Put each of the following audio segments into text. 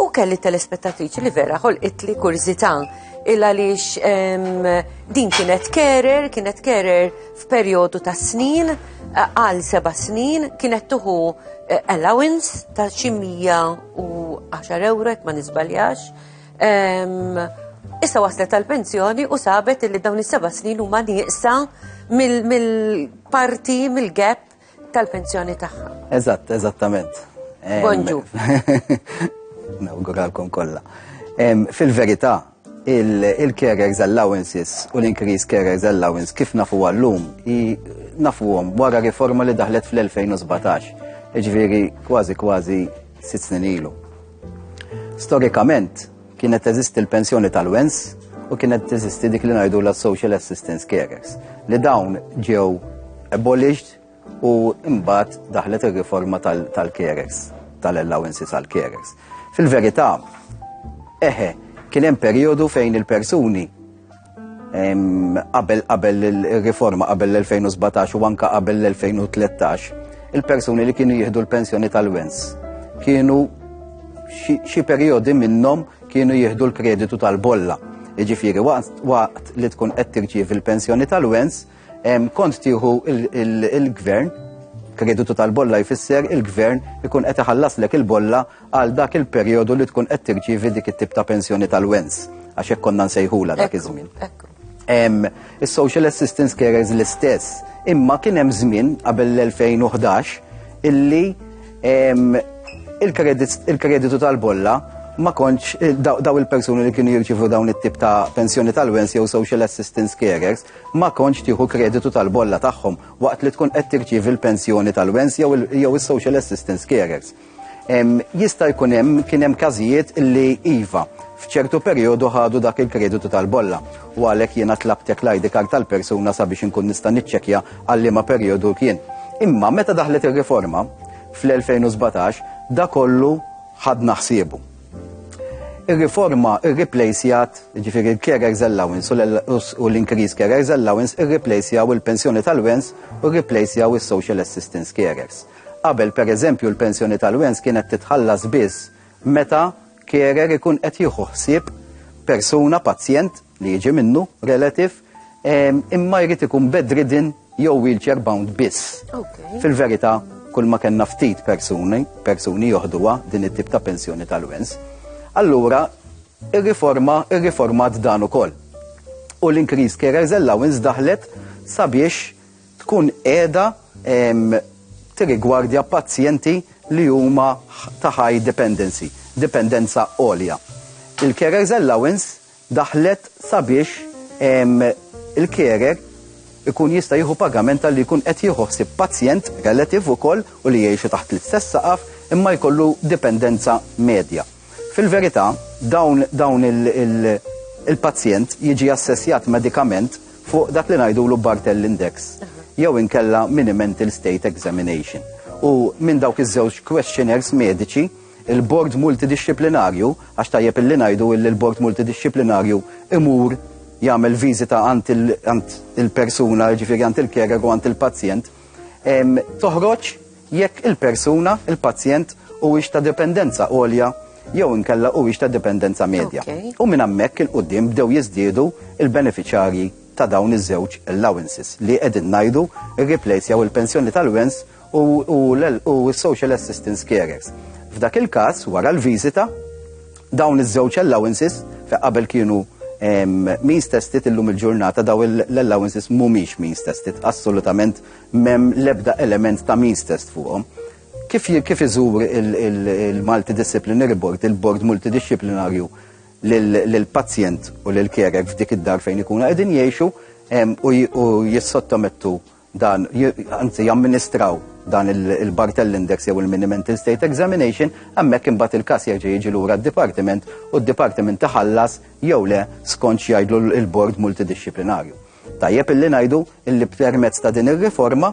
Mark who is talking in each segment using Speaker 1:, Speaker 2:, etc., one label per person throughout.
Speaker 1: U kelli telespettatriċi li vera ħolqitli kurzita il għaliex din kienet kerer, kienet kerer f'perjodu ta' snin, eh, għal seba' snin, kienet tuħu eh, allowance ta' xi u 10 euro ma nisbaljax. Issa waslet tal-pensjoni u sabet li dawn is-seba' snin huma nieqsa mill-parti, mill-gap tal-pensjoni tagħha. Eżatt, eżattament.
Speaker 2: Bonġu. Nawguralkom kollha. Fil-verità, il-carers allowances u l-increase carers allowance kif nafu għallum nafuhom wara riforma li daħlet fl-2017, ġviri kważi kważi sitt snin ilu. Storikament, Kienet teżisti l-pensjoni tal-wens u kienet teżisti dik li ngħidu la social assistance carers li dawn ġew abolished u imbagħad daħlet ir-riforma tal-carers tal-allowances għal carers. Fil-verità, eħe, kien hemm perjodu fejn il-persuni Qabel qabel il-riforma qabel l-2017 u anka qabel l-2013, il-persuni li kienu jieħdu l-pensjoni tal-wens kienu xi periodi minnhom kienu jieħdu l-kreditu tal-bolla. Iġifiri, waqt li tkun qed tirċievi l-pensjoni tal-wens, Kont tieħu il-gvern, kreditu tal-bolla jfisser il-gvern ikun qed iħallaslek il-bolla għal dak il-perjodu li tkun qed tirċievi dik it-tip ta' pensjoni tal-wens, għax hekk konna nsejħula dak iż-żmien. Is-social assistance carers l-istess, imma kien hemm żmien qabel l-2011 illi il-kreditu tal-bolla ma konċ eh, daw il-persuni li kienu jirċivu dawn it-tip ta' pensjoni tal-wens jew social assistance carers Ma kontx tieħu kreditu tal-bolla tagħhom waqt li tkun qed tirċievi l-pensjoni tal-wens jew is-social assistance carers. Jista' jkun hemm kien hemm każijiet li iva, f'ċertu perjodu ħadu dak il-kreditu tal-bolla u għalhekk jiena tlabtek l-ID card tal-persuna sabiex inkun nista' niċċekkja għal liema perjodu kien. Imma meta daħlet ir-riforma fl-2017 da kollu ħadna ħsiebu. Ir-riforma irriplejsjat, ġifiri l-carers allowance u l-increase carers allowance irriplejsjaw il-pensjoni tal-wens u rriplejsjaw is-social assistance carers. Qabel per eżempju l-pensjoni tal-wens kienet titħallas biss meta carer ikun qed jieħu ħsieb persuna pazjent li jiġi minnu, relative, imma jrid ikun bedridden jew wheelchair bound biss. Fil-verità, kull ma kellna ftit persuni, persuni joħduha din it-tip ta' pensjoni tal-wens. Allura, ir-riforma, ir-riformat dan ukoll. U l-increase carers allowance daħlet sabiex tkun qiegħda tirrigwardja pazjenti li huma ta' high dependency, dipendenza għolja. Il-carers allowance daħlet sabiex il-carer ikun jista' jieħu pagament talli jkun qed jieħu ħsieb pazjent, relative ukoll u li jgħixu taħt l-istess saqaf imma jkollu dipendenza medja. Fil-verità, dawn dawn il il-pazjent jiġi assessjat medikament fuq dak li ngħidulu Barthel Index jew inkella Mini Mental State Examination. U minn dawk iż-żewġ questionnaires mediċi, Il-Bord Multidixxiplinarju, għax tajjeb illi ngħidu illi l-Bord Multidixxiplinarju imur jagħmel viżita għand il-persuna, jiġifieri għand il-carer u għand il-pazjent, toħroġ jekk il-persuna, il-pazjent, huwiex ta' dipendenza għolja jew inkella huwiex ta' dipendenza medja. U minn hemmhekk 'il quddiem bdew jiżdiedu l-benefiċjarji ta' dawn iż-żewġ allowances li qegħdin ngħidu rriplejsjaw il-pensjoni tal-wens u s-social assistance carers. F'dak il-każ, wara l-viżita, dawn iż-żewġ allowances fe qabel kienu means tested illum il-ġurnata daw l-allowances mhumiex means tested, assolutament mem lebda element ta' means test fuqhom. Kif kif iżur il-multidisciplinary board, il-board multidisciplinarju lill-pazjent u lill-kerek f'dik id-dar fejn ikunu qegħdin jgħixu u jissottomettu dan, anzi jamministraw dan il-Bartell Index jew il-Miniment in State Examination, hemmhekk imbagħad il-każ jerġa' jiġi lura d-dipartiment u d-dipartiment taħallas jew le skont x'jgħidlu l-bord multidixxiplinarju. Tajjeb illi ngħidu illi permezz ta' din ir-riforma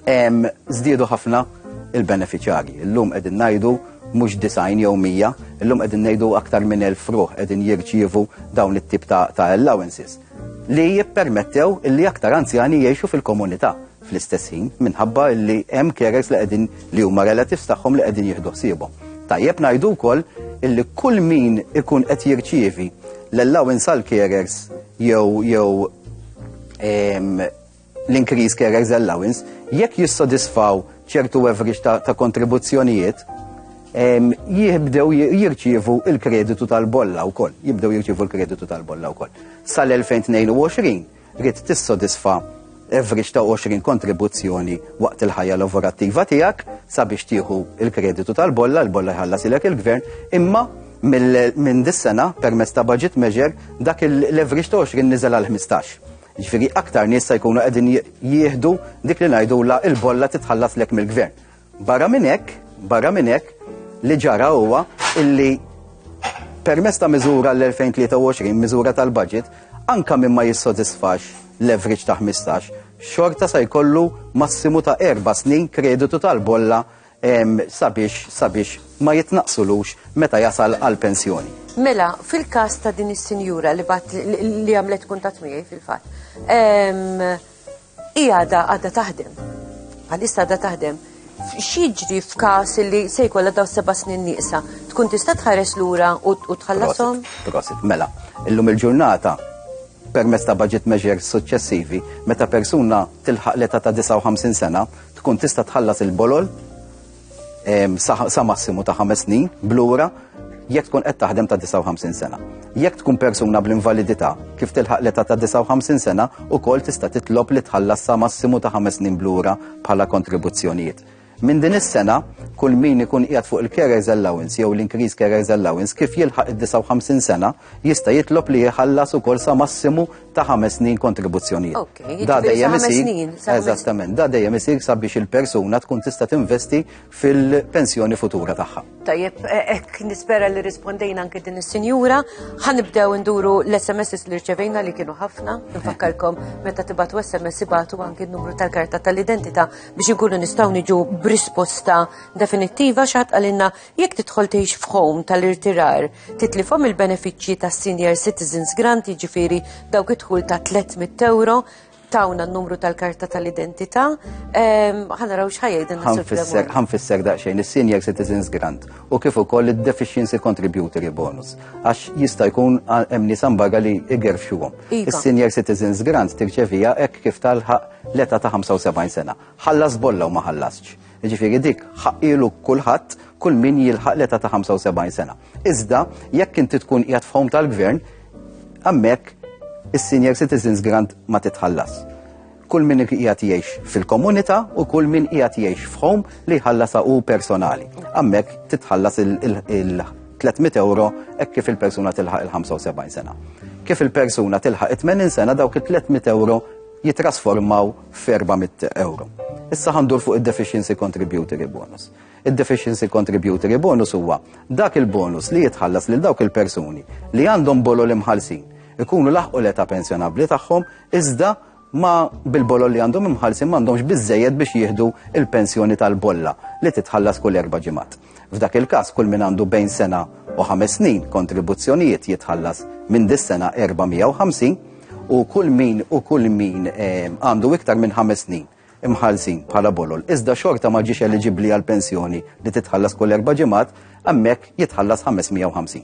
Speaker 2: żdiedu ħafna il-beneficjarji. Illum qegħdin ngħidu mhux design jew mija, illum qegħdin ngħidu aktar minn elf ruħ qegħdin jirċievu dawn it-tip ta' allowances. li jippermettew li aktar anzjani jgħixu fil-komunità fl-istess ħin minħabba li hemm carers li qegħdin li huma relatives tagħhom li qegħdin jieħdu ħsiebhom. Tajjeb ngħidu wkoll illi kull min ikun qed jirċievi l-allowance għal carers jew jew l-increased carers allowance, jekk jissodisfaw ċertu average ta', ta kontribuzzjonijiet, jibdew jirċievu il-kreditu tal-bolla wkoll, jibdew jirċievu l-kreditu tal-bolla wkoll. Sal-2022 rrid tissodisfa average ta' 20 kontribuzzjoni waqt il-ħajja lavorattiva tiegħek sabiex tieħu il-kreditu tal-bolla, l-bolla jħallas ilek il-gvern, imma minn dis-sena permezz ta' budget measure dak l-average ta' 20 niżel għal 15. Jiġifieri aktar nies se jkunu qegħdin jieħdu dik li ngħidulha l-bolla titħallaslek mill-gvern. Barra minn hekk, barra minn hekk, li ġara huwa illi permess ta' miżura l-2023, miżura tal-budget, anka minn ma jissodisfax l-average ta' 15, xorta sa jkollu massimu ta' erba snin kreditu tal-bolla sabiex sabiex ma jitnaqsulux meta jasal għal pensjoni. Mela, fil-kas
Speaker 1: ta' din is-sinjura li bat li għamlet kuntat miegħi fil-fatt, hija għadha għadha taħdem. Għalissa għadha taħdem. X'jiġri f'każ li se jkollha daw seba' snin nieqsa, tkun tista' tħares lura u tħallasom? Prosit, mela,
Speaker 2: illum il-ġurnata permezz ta' budget measures suċċessivi, meta persuna tilħaq l-età ta' 59 sena, tkun tista' tħallas il-bolol sa massimu ta' ħames snin blura jekk tkun qed taħdem ta' 59 sena. Jekk tkun persuna bl-invalidità kif tilħaq l-età ta' 59 sena ukoll tista' titlob li tħallas sa massimu ta' ħames snin blura bħala kontribuzzjonijiet. Minn din is-sena, kull min ikun qiegħed fuq il-carers allowance jew l-increase carers allowance kif jilħaq id-59 sena jista' jitlob li jħallas ukoll sa massimu ta' ħames snin kontribuzzjonijiet. Ok, da dejjem isir. Eżattament, da dejjem isir sabiex il-persuna tkun tista' tinvesti fil-pensjoni futura tagħha. Tajjeb, e, ek
Speaker 1: nispera li rispondejna anke din is-sinjura, ħanibdew nduru l-SMS li rċevejna li kienu ħafna, nfakkarkom meta tibatu SMS ibatu anke n-numru tal-karta tal-identità biex inkunu nistgħu niġu b'risposta definittiva xaħat għalinna Jekk tidħol tgħix f'home tal-irtirar, titlifhom il-benefiċċji tas-Senior Citizens Grant, jiġifieri dawk id-dħul ta' 300 ewro, tawna n-numru tal-karta tal-identità, ehm, ħanaraw xħajja Ħanfisser
Speaker 2: daqsxejn is-Senior Citizens Grant u kif ukoll id-Deficiency Contributory Bonus għax jista' jkun hemm nies ambaga li igerfxuhom. Iva. Is-Senior Citizens Grant tirċevija hekk kif talħaq l-età ta' 75 sena. Ħallas bolla u ma ħallasx. Jiġifieri dik ħaqqielu kulħadd kull min jilħaq l-età ta' 75 sena. Iżda jekk inti tkun qiegħed f'ħom tal-gvern, hemmhekk is-senior citizens grant ma titħallas. Kull min qiegħed jgħix fil-komunità u kull min qiegħed jgħix f'ħom li jħallasa u personali. Hemmhekk titħallas il-300 euro hekk kif il-persuna tilħaq il-75 sena. Kif il-persuna tilħaq 80 sena dawk il-300 euro jitrasformaw 400 euro. Issa ħandur fuq id-deficiency contributory bonus. Id-deficiency contributory bonus huwa dak il-bonus li jitħallas lil dawk il-persuni li għandhom bolo l-imħalsin ikunu laħqu l-età pensjonabli tagħhom iżda ma bil-bolol li għandhom imħalsin m'għandhomx biżejjed biex jieħdu il-pensjoni tal-bolla li titħallas kull erba' ġimgħat. F'dak il-każ kull min għandu bejn sena u ħames snin kontribuzzjonijiet jitħallas minn dis-sena 450 u kull min u kull min eh, għandu iktar minn ħames snin imħallsin bħala bolol. Iżda xorta ma ġiex eliġibbli għal pensjoni li titħallas kull erba' ġimgħat, hemmhekk jitħallas 550.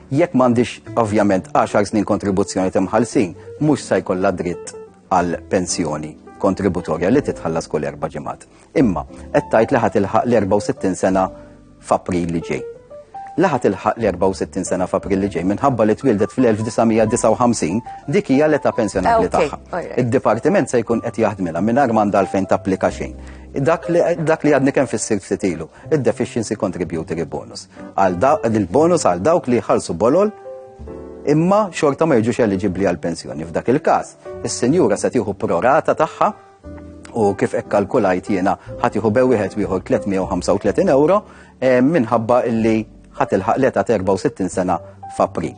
Speaker 2: Jekk m'għandix ovvjament 10 snin kontribuzzjoni timħallsin, mhux se jkollha dritt għal pensjoni kontributorja li titħallas kull erba' ġimgħat. Imma qed tgħid li ħadd ilħaq l-64 sena f'April li ġej. Laħat ilħaq l-64 sena f'April li ġej minħabba li twildet fl-1959 dik hija l-età pensjonabbli ah, tagħha. Id-dipartiment se jkun qed jaħdmilha mingħajr m'għandha għalfejn tapplika xejn. Dak li għadni kemm fis-sir ftit ilu. id-Deficiency Contributory Bonus. Il-bonus għal dawk li jħallsu bolol imma xorta ma jiġux eliġibbli għal pensjoni. F'dak il-każ, is-sinjura se tieħu prorata tagħha u kif hekk kalkulajt jiena ħadd jieħu bew wieħed wieħor 335 euro eh, minħabba illi ħadd ilħaq leta 64 sena f'April.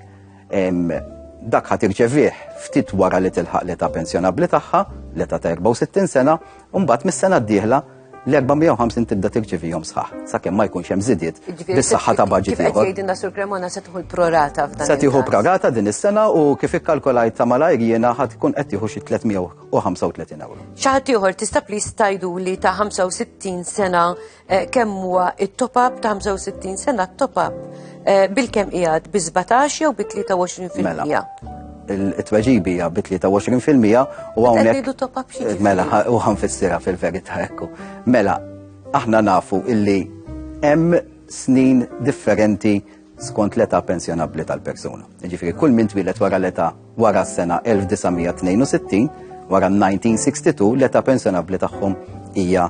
Speaker 2: Dak ħadd irċevih ftit wara li tilħaq leta pensjonabbli tagħha, leta 64 sena, u mbagħad mis-sena d-dieħla L-450 tibda tirċivihom sħaħ, sakemm ma jkunx hemm żidiet bis-saħħa ta' budget ieħor. Jgħidilna sur Cremona se
Speaker 1: tieħu l-prorata f'dan. Se tieħu prorata din
Speaker 2: is-sena u kif ikkalkolajt ta' malajr jiena ħad tkun qed tieħu xi 335 euro. Xi ħadd ieħor tista'
Speaker 1: plis tajdu li ta' 65 sena eh, kemm huwa it-top up ta' 65 sena t-top up Eh, bil-kem qiegħed bi 17 jew bi 23 fil-mija? Mela,
Speaker 2: il-tweġibi hija bi 23 fil-mija u hawnhekk. Eh, mela, u ħanfissira fil-verità ekku. Mela, aħna nafu illi hemm snin differenti skont l-età pensjonabbli tal-persuna. Ġifieri kull min twilet wara l-età wara s-sena 1962 wara 1962 l-età pensjonabbli tagħhom hija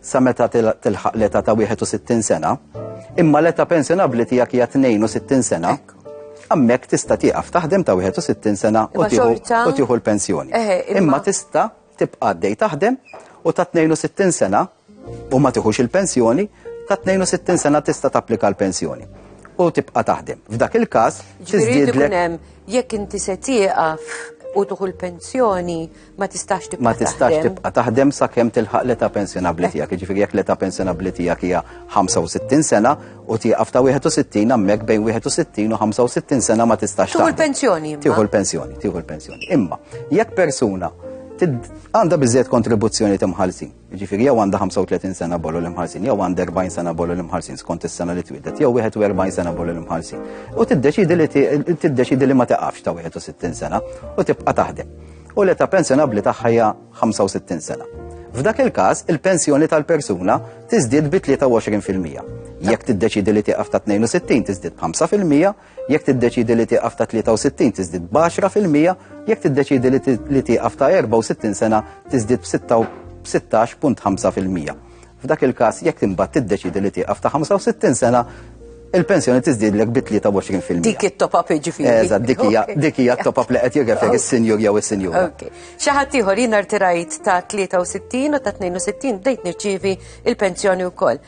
Speaker 2: sa meta tilħaq l-età ta' 61 sena, imma l-età pensjonabbli tiegħek hija 62 sena, hemmhekk tista' tieqaf taħdem ta' 61 sena u tieħu l-pensjoni. Imma tista' tibqa' għaddej taħdem u ta' 62 sena u ma tiħux il-pensjoni, ta' 62 sena tista' tapplika l-pensjoni u tibqa' taħdem. F'dak il-każ, tiżdiedlek.
Speaker 1: Jekk inti se tieqaf u tuħu l-pensjoni, ma tistax tibqa' ma tistax tibqa' taħdem
Speaker 2: sakemm tilħaq l-età pensjonabbli tiegħek. Jiġifieri jekk l-età pensjonabbli tiegħek hija 65 sena u tieqaf ta' 61 hemmhekk bejn 61 u 65 sena ma tistax taħdem. Tieħu l-pensjoni. Tieħu
Speaker 1: l-pensjoni, tieħu
Speaker 2: l-pensjoni. Imma jekk persuna għandha biżejjed kontribuzzjoni timħallsin Ġifiri, jew għandha 35 sena bollu l-imħarsin, jew għandha 40 sena bollu l-imħarsin skont is-sena li twidet, jew 41 sena bollu l-imħarsin. U tiddeċidi li tiddeċidi li ma taqafx ta' 61 sena u tibqa' taħdem. U l-età pensjonabbli tagħha hija 65 sena. F'dak il-każ, il-pensjoni tal-persuna tiżdied bi 23%. Jekk tiddeċidi li tieqaf ta' 62 tiżdied b'5%, Jekk tiddeċiedi li tieqaf ta' 63 tiżdied b'għaxra fil-mija, jekk tiddeċiedi li tieqaf ta' 64 sena tiżdied b'16.5 fil-mija. F'dak il-każ, jekk imbagħad tiddeċiedi li tieqaf ta' 65 sena, il-pensjoni tiżdiedlek bi 23 fil-mija. Dik it-top up jiġifieri.
Speaker 1: Eżatt, dik hija dik
Speaker 2: hija t-top up li qed jirreferi s-sinjur jew is-sinjura. Okay. Xi ħadd
Speaker 1: ieħor jien rtirajt ta' 63 u ta' 62 bdejt nirċievi il-pensjoni wkoll.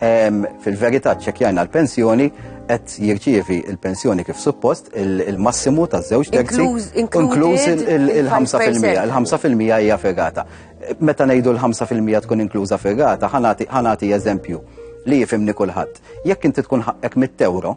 Speaker 2: Fil-verità ċċekkjajna l-pensjoni qed jirċievi l-pensjoni kif suppost il-massimu ta' żewġ terzi inkluż il-5%. Il-5% hija ferrata. Meta ngħidu l-5% tkun inkluża ferrata, ħanati eżempju li jifimni kulħadd. Jekk inti tkun ħaqqek mit-tewro,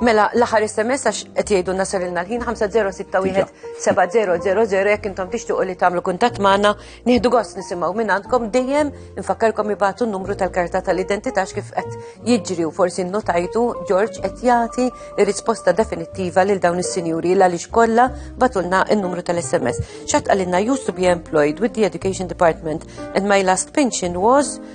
Speaker 2: Mela, l-aħħar
Speaker 1: SMS għax qed jgħidu nasarilna l-ħin 50617000 jekk intom tixtuqu li tagħmlu kuntatt magħna, nieħdu gost nisimgħu minn għandkom dejjem infakkarkom ibatu n-numru tal-karta tal-identità kif qed jiġri u forsi nnotajtu George qed jagħti risposta definittiva lil dawn is-sinjuri l għaliex kollha batulna n-numru tal-SMS. Xatt qalilna used to be employed with the Education Department and my last pension was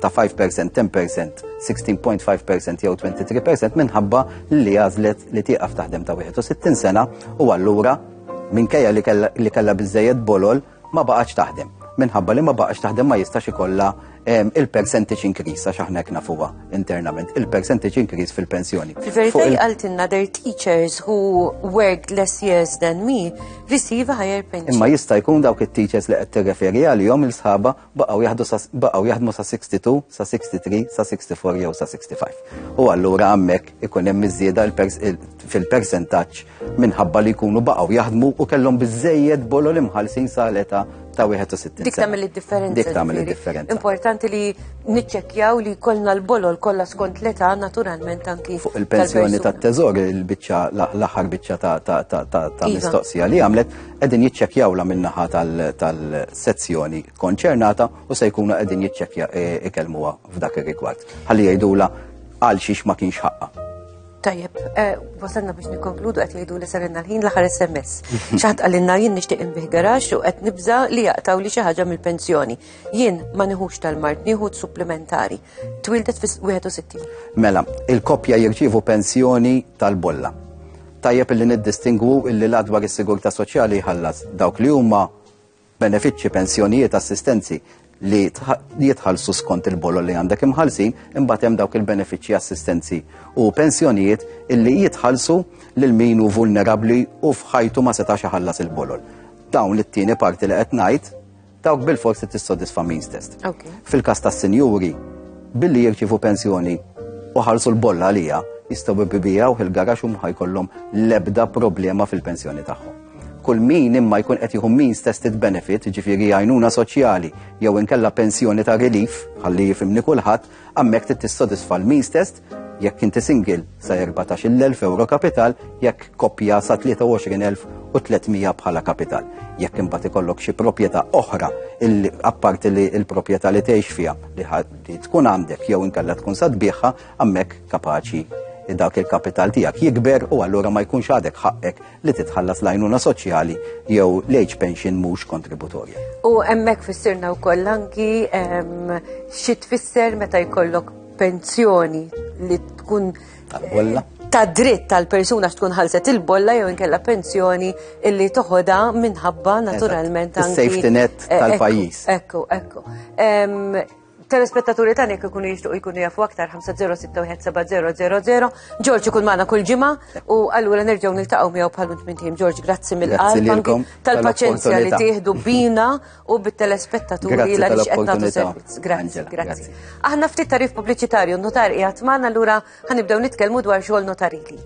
Speaker 2: ta' 5%, 10%, 16.5% jew 23% minħabba li għażlet li tieqaf taħdem ta' 61 sena u allura minkejja li kellha biżejjed bolol ma baqax taħdem. Minħabba li ma baqax taħdem ma jistax ikollha ehm, il-percentage increase għax aħna kna fuqha internament, il-percentage increase fil-pensjoni. Fil-verità jqaltilna
Speaker 1: their teachers who worked less years than me receive a higher pension. Imma jista' jkun dawk
Speaker 2: it-teachers li qed tirreferi għalihom il-sħaba baqgħu jaħdu sa baqgħu jaħdmu sa 62, sa 63, sa 64 jew sa 65. U allura hemmhekk ikun hemm iż-żieda fil-persentaġġ minħabba li jkunu baqgħu jaħdmu u kellhom biżejjed bolo li mħallsin sa l-età ta' 61. Dik tagħmel id-differenza.
Speaker 1: Dik tagħmel id-differenza.
Speaker 2: Importanti li
Speaker 1: niċċekkjaw li kollna l-bolol kollha skont l-età naturalment anki. Fuq il-pensjoni
Speaker 2: tat-teżor il-biċċa l-aħħar biċċa ta' iva. mistoqsija li għamlet qegħdin jiċċekkjawla min-naħa tal-sezzjoni konċernata u se jkunu qegħdin jiċċekkja e, ikellmuha f'dak ir-rigward. Ħalli jgħidula għal xiex ma kienx ħaqqa. Tajjeb,
Speaker 1: e, wasalna biex nikkonkludu qed jgħidu li sarinna l-ħin l-aħħar SMS. Xaħat għalinna jien nixtieq inbih garax u qed nibża li jaqtaw li xi ħaġa mill-pensjoni. Jien ma nieħux tal-mart, nieħu supplementari. Twildet fis-61. Mela,
Speaker 2: il-koppja jirċievu pensjoni tal-bolla Tajjeb illi niddistingwu illi l-Att dwar is-Sigurtà Soċjali jħallas dawk li huma benefiċċji, pensjonijiet, assistenzi li jitħallsu skont il-bolol li għandek imħallsin, imbagħad hemm dawk il-benefiċċji assistenzi u pensjonijiet illi jitħallsu lil min hu vulnerabbli u f'ħajtu ma setax iħallas il-bolol. Dawn it-tieni parti li qed ngħid Dawk bil-fors li tissodisfa means test. Fil-kas ta' sinjuri, billi jirċivu pensjoni u ħarsu l-bolla għalija, jistaw bibijaw il-garax u mħajkollhom lebda problema fil-pensjoni tagħhom. Kull min imma jkun qed jieħu means tested benefit, ġifieri għajnuna soċjali jew inkella pensjoni ta' relief, ħalli jifimni kulħadd, hemmhekk trid tissodisfa l-means test Jekk inti single sa 14,000 euro kapital, jekk koppja sa 23,300 bħala kapital. Jekk imbagħad ikollok xi proprjetà oħra apparti li l-proprjetà li tgħix fiha li tkun għandek jew inkella tkun sa tbieħha hemmhekk kapaċi dak il-kapital tiegħek jikber u allura ma jkunx għadek ħaqqek li titħallas lajnuna soċjali jew l-age pension mhux kontributorja. U hemmhekk
Speaker 1: fissirna wkoll anki xi tfisser meta jkollok pensjoni li tkun tal-bolla eh, ta' dritt tal-persuna x'tkun ħalset il-bolla jew inkella pensjoni illi toħodha minħabba naturalment anki. Safety net eh, tal-pajjiż.
Speaker 2: Ekku, ekku.
Speaker 1: Telespettaturi tani kikunu jishtuq jkunu jafu aktar 5061700. Ġorġ ikun maħna kull ġima u għallura nerġaw nil-taqaw miegħu bħal minn tim. Ġorġ, grazzi mill-qalb tal-paċenzja li tieħdu bina u bit-telespettaturi Grazzi li għaliex qed nagħtu tal-opportunità. servizz. Grazzi, Angela, grazzi. grazzi. Aħna ftit tarif pubbliċitarju, notar qiegħed magħna allura ħanibdew nitkellmu dwar xogħol notarili.